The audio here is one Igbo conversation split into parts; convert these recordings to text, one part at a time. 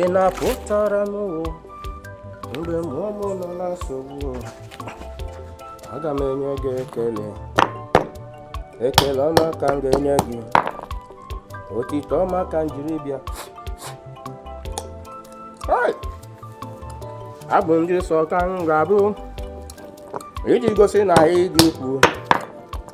ị na-apụtara m mgbe mụ nọ na nsogbu aga m enye gị ekele ekele ọma ka m ga-enye gị otito ọma ka m jiri bịa abụ ndị nsọ ka m ga-abụ iji gosi na ị dị ukwuu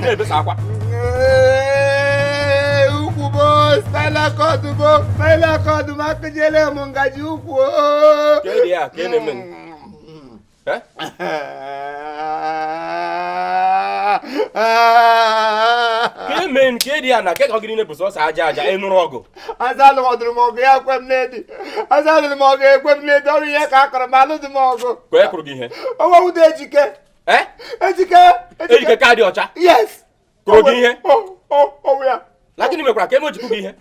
na-ebesa akwa ukwu bụ spinal cord bụ spinal cord ma akụjiele m ngaji ukwu mee nke dị ya na kekọ gịrị na-ebu sọsọ aja aja ị nụrụ ọgụ azalụdụrụ m ọgụ ya kwe m n'edi azalụrụ m ọgụ ekwe m n'edi ọrụ ihe ka akọrọ m alụdị m ọgụ kwee kwụrụ gị ihe onwe ụda ejike Eh? ejike ejike ka dị ọcha yes ka oge ihe ọwụ ya na gịnị mekwara ka eme ojikwu gị ihe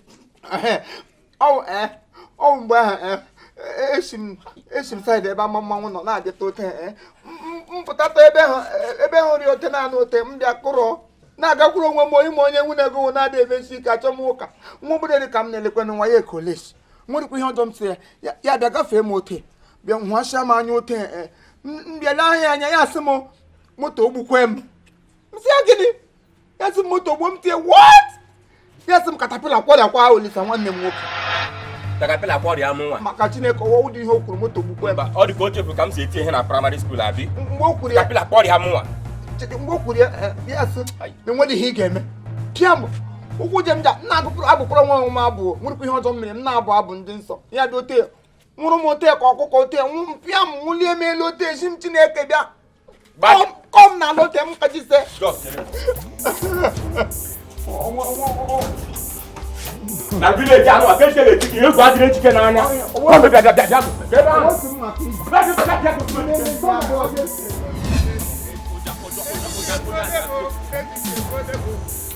ọwụ eh, ọwụ mgbe ahụ eh, esi m esi m side ebe ama mmanwụ nọ na-adịta ote m pụtata ebe ahụ ebe ahụ rịa ote na-anụ ote m bịa kụrụ na-agakwuru onwe m onye ma onye nwunye ego na-adị emesi ike achọ m ụka nwa obodo ka m na-elekwanụ nwa ya ekolesi nwerekwa ihe ọjọọ m sị ya ya bịa gafee m ote bịa hụasịa m anya ote e, e. m bịala ahịa anya ya sị m moto gbukwe m sị ya gịnị ya sị m moto gbuo m tie what ya sị m katapila kwọrịakwa olisa nwanne m nwoke katapila kwọrịa m nwa maka chineke ọwa ụdị ihe o kwuru moto gbukwe m ọ dị ka o chefuru ka m si eti ihe na praịmarị skuul abi mgbe o kwuru ya katapila kwọrịa m nwa mgbe o kwuru ya eh, ya sị na enweghị ihe ị ga-eme pịa m ụkwụ je m ja nna agụpụrụ abụkwara nwa ọnwụ m abụ nwerekwa ihe ọjọọ m mere m na-abụ abụ ndị nsọ ya dị ote nwụrụ m ote ka ọkụkọ ote nwụ m pịa m nwụlie m elu ote asị m chineke bịa kụọ m n'ala ote m kajisie na village anụ aka echere echiche egwu adịghị ejike n'anya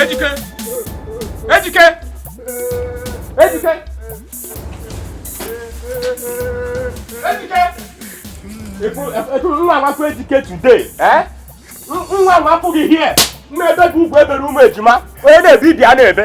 Ejike! Ejike! Ejike! Ejike! M ga-awa afọ Ejike today, eh? M ga-awa afọ gị here! M ga-ebe gị ugwu e bere ụmụ ejima, onye na-ebe ibi a na-ebe.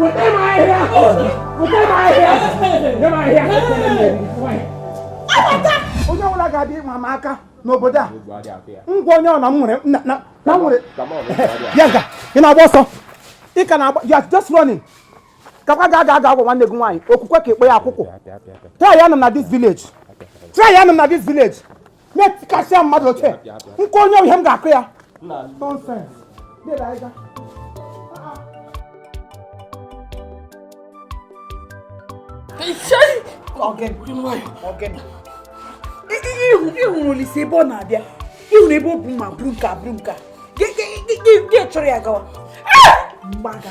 Weta m ahịhịa! Weta m ahịhịa! Nye m ahịhịa! Abata! Onye ọbụla ga-abịa ịma m aka n'obodo a. Ngwa onye ọ na m nwere na nwere. Ya ga, ị na-agba ọsọ. Ị ka na-agba, you are just running. Kakwa ga aga aga agwa nwanne gị nwaanyị, okwukwe ka ekpe ya akwụkwọ. Try ya nọ na this village. Try ya nọ na this village. na-etikasịa mmadụ oche nke onye ihe m ga-akụ ya ịhụrụ Olisa ebe ọ na-abịa ịhụrụ ebe o bu mma buru nke a buru nke a gị chọrọ ya gawa mgbaga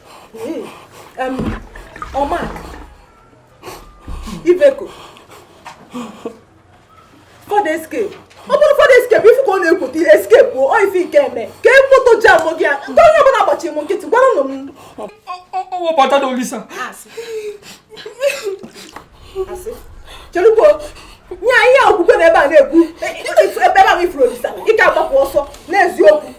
ọma ibeko Ford Escape ọ bụrụ Ford Escape ị fụ ka ọ na-ekwute escape bụ ọ ife nke eme ka moto jamụọ gị ya nke onye ọbụla agbachi m nkịtị gwara nụ m ọ bata na olisa. chelugbo nye anyị a okwukwe na ebe a na-ekwu ebe a na ị fụrụ olisa ị ka agbapụ ọsọ n'eziokwu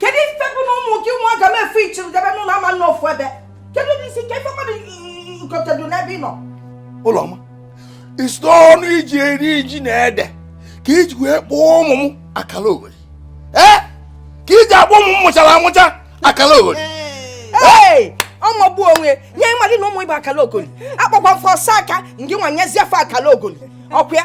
kedu ife bụ na ụmụ gị nwa ga m efe ị chịrị debe n'ụlọ ama nọ ofu ebe kedu n'isi ka ife mmadụ nkotedu n'ebe ị nọ ụlọma isi ọnụ iji eri ji na ede ka iji wee kpọọ ụmụ m akala ogoli ee ka iji akpọ ụmụ m mụchara amụcha akala ogoli ọ mụgbu onwe ye ị madị na ụmụ ị bụ akala ogoli akpọkwa m fa ọsaka ngị nwa nyezie fa akala ogoli ọkwa ya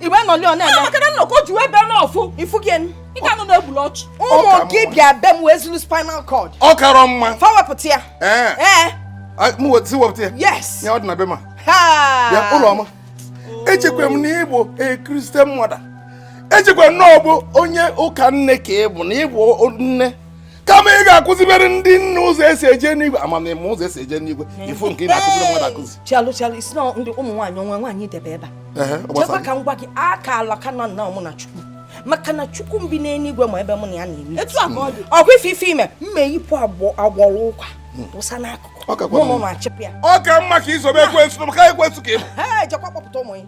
iwe nọli ọ na-eme maka na nnọkọ ji wee bịa n'ọfụ ifu gị enu ị ga nọ na-egbulu ọchụ ụmụ gị bịa be m wee zuru spinal cord ọ karọ mma fa wepụta ya ee ee m wetị wepụta ya yes ya ọ dị na be ma ya ụlọma echekwa m na ị bụ a Christian mother echekwa m na ọ bụ onye ụka nne ka ị bụ na ị bụ nne kama ị ga-akụzibere ndị nne ụzọ esi eje n'igwe amamihe ụzọ esi eje n'igwe ife nke ị na-akụziri mmadụ akụzi chalụ chalụ isi na ndị ụmụ nwaanyị onwe nwaanyị debe ebe a chekwa ka m gwa gị aka ala ka nọ nna mụ na chukwu maka na chukwu bi n'eluigwe ma ebe mụ na ya na-eme ọgwụ ife ife ime mma eyipụ agwọrọ ụka hmm. wụsa n'akụkụ mụ na ụmụ achịpụ ya ọ ka mma ka i sobe ekwensu maka ekwensu ka ị bụ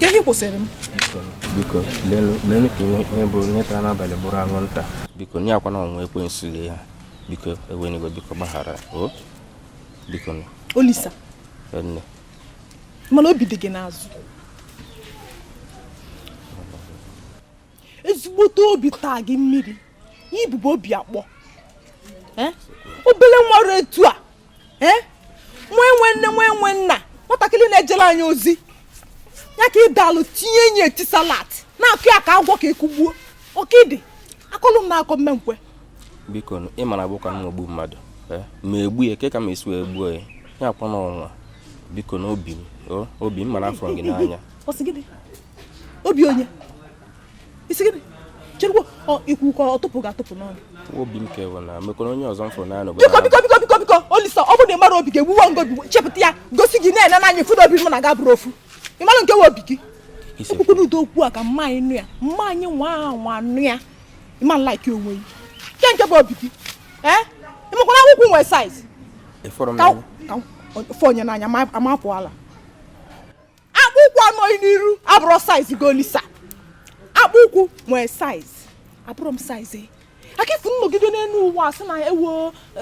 Kedu kwụsịrị m? Biko, leenụ ka ihe ọbụna tara n'abalị bụrụ anwụnta. Biko, nye akwa na ọnwa ekwensu lee ha. Biko, ewena iwe biko gbaghara. O? Biko. Olisa. Nne. Mana obi dị gị n'azụ. ezigbote obi taa gị mmiri ibubo obi akpọ eh? obele nwa ruo etu a eh? nwa enwe nne nwa enwe nna nwatakịrị na-ejere anyị ozi ya ka ị dalụ tinye enyi eti salat na-akụ ya ka agwa ka ekugbuo ọkịdị akọlụ m na-akọ m ma ekwe biko ị mara abụkwa m ogbu mmadụ eh? ma egbu ya ke ka m esi wee gbuo ya ya akwa n'ọnwa biko n'obi m obi m mara afụrụ m gị n'anya obi onye ị sị gịnị cherukwa ikwu ka ọ tụpụ ga-atụpụ n'ọnụ obi m ka ewe na mekwara onye ọzọ m fụrụ n'anya biko biko biko biko biko olisa ọ bụrụ na ị mara obi ga-egbuwa ngobi chepụta ya gosi gị na-ene n'anya fụrụ obi m na ga bụrụ ofu ị mara nke we obi gị ekwukwu n'udo okwu a ka mma anyị nụ ya mma anyị nwa nwa nụ ya ịma nlaiki onwe gị nke nke bụ obi gị ee ị makwa na akpụ ụkwụ nwee saiz ka afụ onye n'anya ma apụ ala akpụ ụkwụ a nọ gị n'iru abụrọ saiz gị olisa akpụ ụkwụ nwee saiz abụrọ m saiz e. akifu nnọgide n'elu ụwa asị na ewo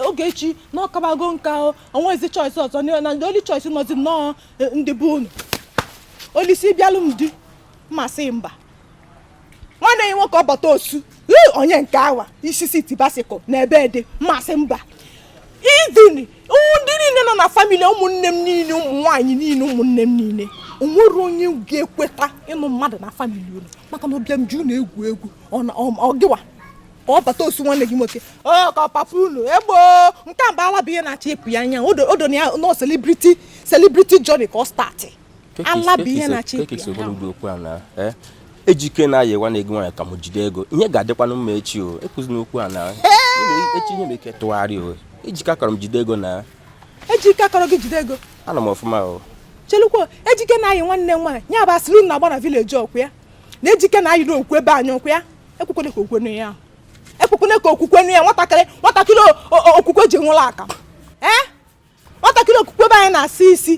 oge echi na ọkabago nka o nwezi choice ọzọ na ndị only choice nọzi nnọọ e, ndị be unu olisa ị bịalụ m di m asị mba nwanne gị nwoke ọbata osu onye nke awa isisi tibasikụ na a bịa di m asị mba even ndị niile nọ na famili ụmụnne m niile ụmụ nwaanyị niile ụmụnne m niile o nwerọ onye ga-ekweta ịnụ mmadụ na famili unu maka na ụbịam ji unu egwu egwu ọ gịwa ka ọ bata osu nwanne gị nwoke ọ ka papa unu egbo nke mba ala bụ ihe na-achọ ịpụ ya anya odo na ya nọ selebriti selebriti jọni ka ọ startị ala bụ ihe na-achị eh? ejike na-ayị nwanne gị nwanyị ka m jide ego ihe ga-adịkwanụ mma echi o ekwuzi n'okwu a na echi ihe nwe ike ịtụgharị o ejike akarọ m jide ego na ejike akarọ gị jide ego ana m ọfụma o chelukwa ejike na-ayị nwanne m nwaanyị ya bụ asịrị na-agba na vileji ọ kwa na ejike na-ayịrị okwu be anyị ọ kwa ya ekwukwene ka okwu nụ ya ekwukwene ka okwukwe nụ ya nwatakịrị nwatakịrị okwukwe ji nwụrụ aka ee eh? nwatakịrị okwukwe be anyị na-asa isi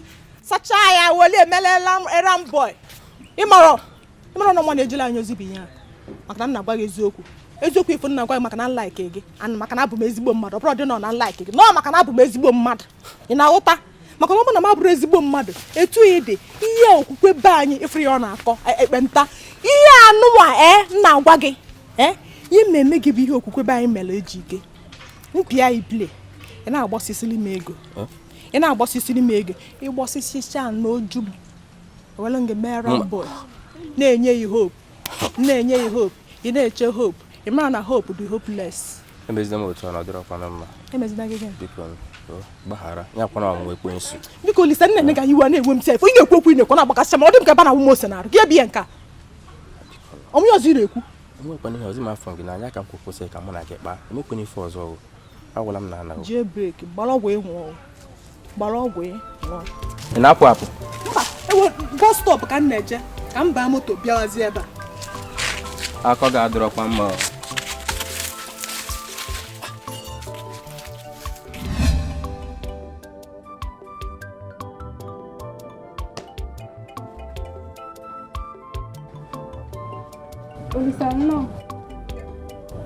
sachaa ya weli emelela errand boy ịmarọ ịmarọ na nwa na-ejela anyị ozi bụ ihe a maka na n na-agwa gị eziokwu eziokwu ị fụ n na-agwa gị maka na nlaike gị ana maka na abụ m ezigbo mmadụ ọ bụrọdị nnọọ na nlaike gị nnọọ maka na abụ m ezigbo mmadụ ị na-aghọta maka na ọ bụrụ na m abụrọ ezigbo mmadụ etu ị dị ihe okwukwe be anyị ị fụrọ ya ọ na-akọ e, ekpenta ihe anụnwa e na-agwa gị e ihe na-eme gị bụ ihe okwukwe be anyị mere ejike m pịa ị play ị na-agbọsisiri m ego ị na-agbọsisiri m ego ị gbọsisicha n'oju m were gị mere boy na-enye gị hope na-enye gị hope ị na-eche hope ị mara na hope dị hopeless emezina m otu ọ na-adịrọ kwana mma emezina gị gịnị biko gbaghara ya kwana ọlụ ekwensu biko olisa nee ka iwe na-ewe m sef ị na-ekwu okwu ị na-ekwu na-agbakasịcha m ọ dị m ka ebe a na-awụ m ose n'arụ gị ebie nke a ọmụ ya ọzọ ị na-ekwu enwekwana ihe ọzọ m afụ gị n'anya ka m kwụ kwụsị ka mụ na gị kpaa enwekwana ife ọzọ ọgụ agwala m na anaghị jee breki gbara ọgwụ ịnwụ ọgwụ gbara ọgwụ ịnwụ ị na-apụ apụ mba ebe bọs stọp ka m na-eje ka m baa moto bịawazi ebe a akọ gị adịrọkwa mma ọ. Olisa nnọọ.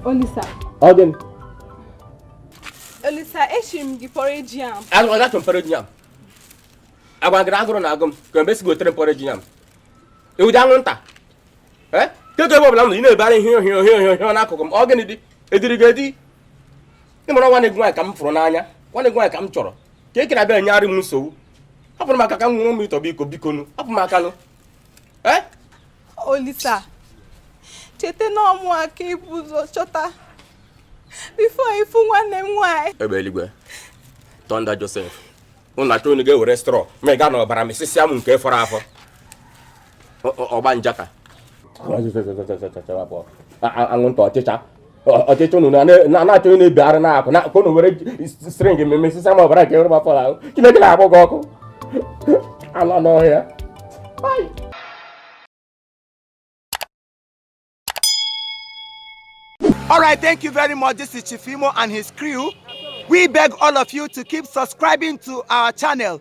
Olisa. Ọ gịnị? Olisa, esiri m gị porridge yam. Agwa gị achọ m porridge yam. Agwa gị agụrụ na agụ m ka mgbe si gị gotere m porridge yam. Ị wụ dị anwụnta. Kedu ebe ọbụla m nọ ị na-ebara ihe ohie ohie ohie ohie n'akụkụ m ọ gịnị dị ediri gị edi ị mara nwanne gị nwaanyị ka m fụrụ n'anya nwanne gị nwaanyị ka m chọrọ ka e kere abịa enyegharị m nsogbu hapụrụ m aka ka m ṅụrụ mmiri tọgbọ iko bikonu hapụ m aka nụ eh? olisa cheta na ọ mụwa ka i bu ụzọ chọta before ị fụ nwanne m nwaanyị egbe eluigwe thunder Joseph unu achọ unu ga-ewere straw ma ị ga na ọbara mịsịsịa m nke fọrọ afọ ọgba njaka anwụnta ọchịcha ọchịcha unu na-achọ ị na-ebigharị n'akụkụ ka unu were string mị m mịsịsịa m ọbara nke rụba fọrọ ahụ chineke na-akpọ gị ọkụ anụ ọhịa All right, thank you very much. This is Chief Imo and his crew. We beg all of you to keep subscribing to our channel.